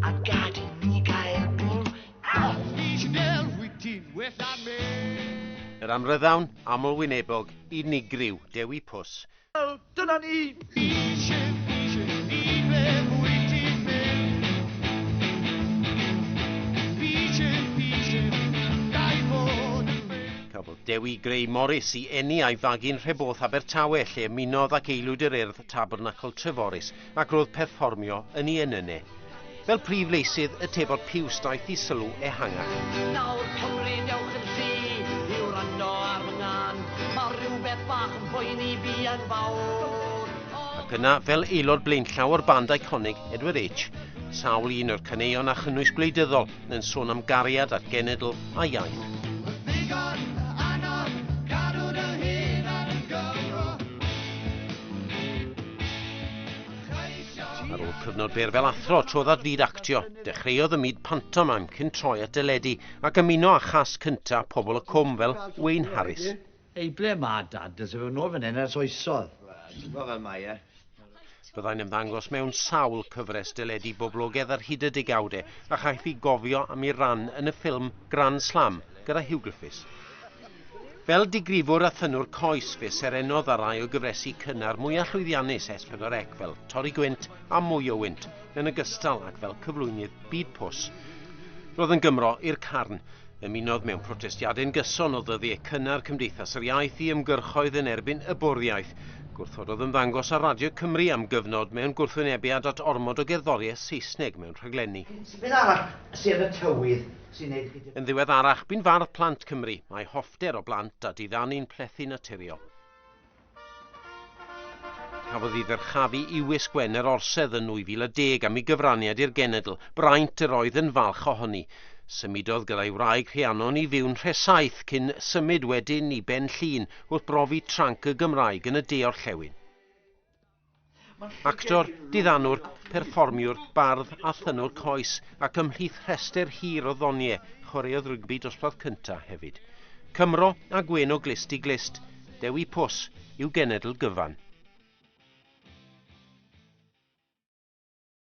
A gad i ni gael bwrw Artisanal wyt ti'n well na me Yr amryddawn amlwynebog unigryw, Dewi Pws. Wel, dyna ni! Eisiau, eisiau, i be wyt ti'n mynd? Eisiau, eisiau, gael bod yn ffrind. Cafodd Dewi Gray Morris i eni a'i fagu'n Nhreborth Abertawe lle ymunodd ac aelwyd yr Urdd Tabernacl Treforys ac roedd perfformio yn ei enyne. Fel prif leisydd y Tebot Piws daeth i sylw ehangach. Nawr Cymru dewch yn llu i wrando ar fy ngân, mae rhywbeth bach yn poeni fi yn fawr. Ac yna, fel aelod blaenllaw o'r band eiconig Edward H, sawl un o'r caneuon a chynnwys gwleidyddol yn sôn am gariad a'r genedl a iaith. Ar ôl cyfnod byr fel athro, trodd at fyd actio. Dechreuodd y myd pantomime cyn troi at deledu ac ymuno â chas cynta Pobl y Cwm fel Wayne Harris. Ei ble ma dad? Does e ddim yn ôl fan hyn ers oesodd. Wel, ti'n gweld fel mae e. Byddai'n ymddangos mewn sawl cyfres deledu boblogedd ar hyd y degawdau, a chaiff ei gofio am ei ran yn y ffilm Grand Slam gyda Huw Griffiths. Fel digrifwr a thynwr coes, fe serenodd ar rai o gyfresi cynnar mwyaf llwyddiannus S4C fel Torri Gwynt a Mwy o Wynt, yn ogystal ag fel cyflwynydd Byd Pws. Roedd yn Gymro i'r carn. Ymunodd mewn protestiadau'n gyson o ddyddiau cynnar Cymdeithas yr Iaith i ymgyrchoedd yn erbyn y bwriaeth. Gwrthododd ymddangos ar Radio Cymru am gyfnod mewn gwrthwynebiad at ormod o gerddoriaeth Saesneg mewn rhaglenni. Beth arall sy yn y tywydd sy'n neud chi... Yn ddiweddarach, bu'n fardd plant Cymru. Mae hoffter o blant a diddanu'n plethu naturiol. Cafodd ei ddyrchafu i Wisg Wen yr Orsedd yn 2010 am ei gyfraniad i'r genedl, braint yr oedd yn falch ohoni. Symudodd gyda'i wraig Rhiannon i fyw'n Nhresaith cyn symud wedyn i Ben Llŷn wrth brofi tranc y Gymraeg yn y de-orllewin. Actor, diddanwr, perfformiwr, bardd a thynwr coes ac ymhlith rhestr hir o ddoniau, chwaraeodd rygbi dosbarth cyntaf hefyd. Cymro a gwên o glust i glust, Dewi Pws yw genedl gyfan.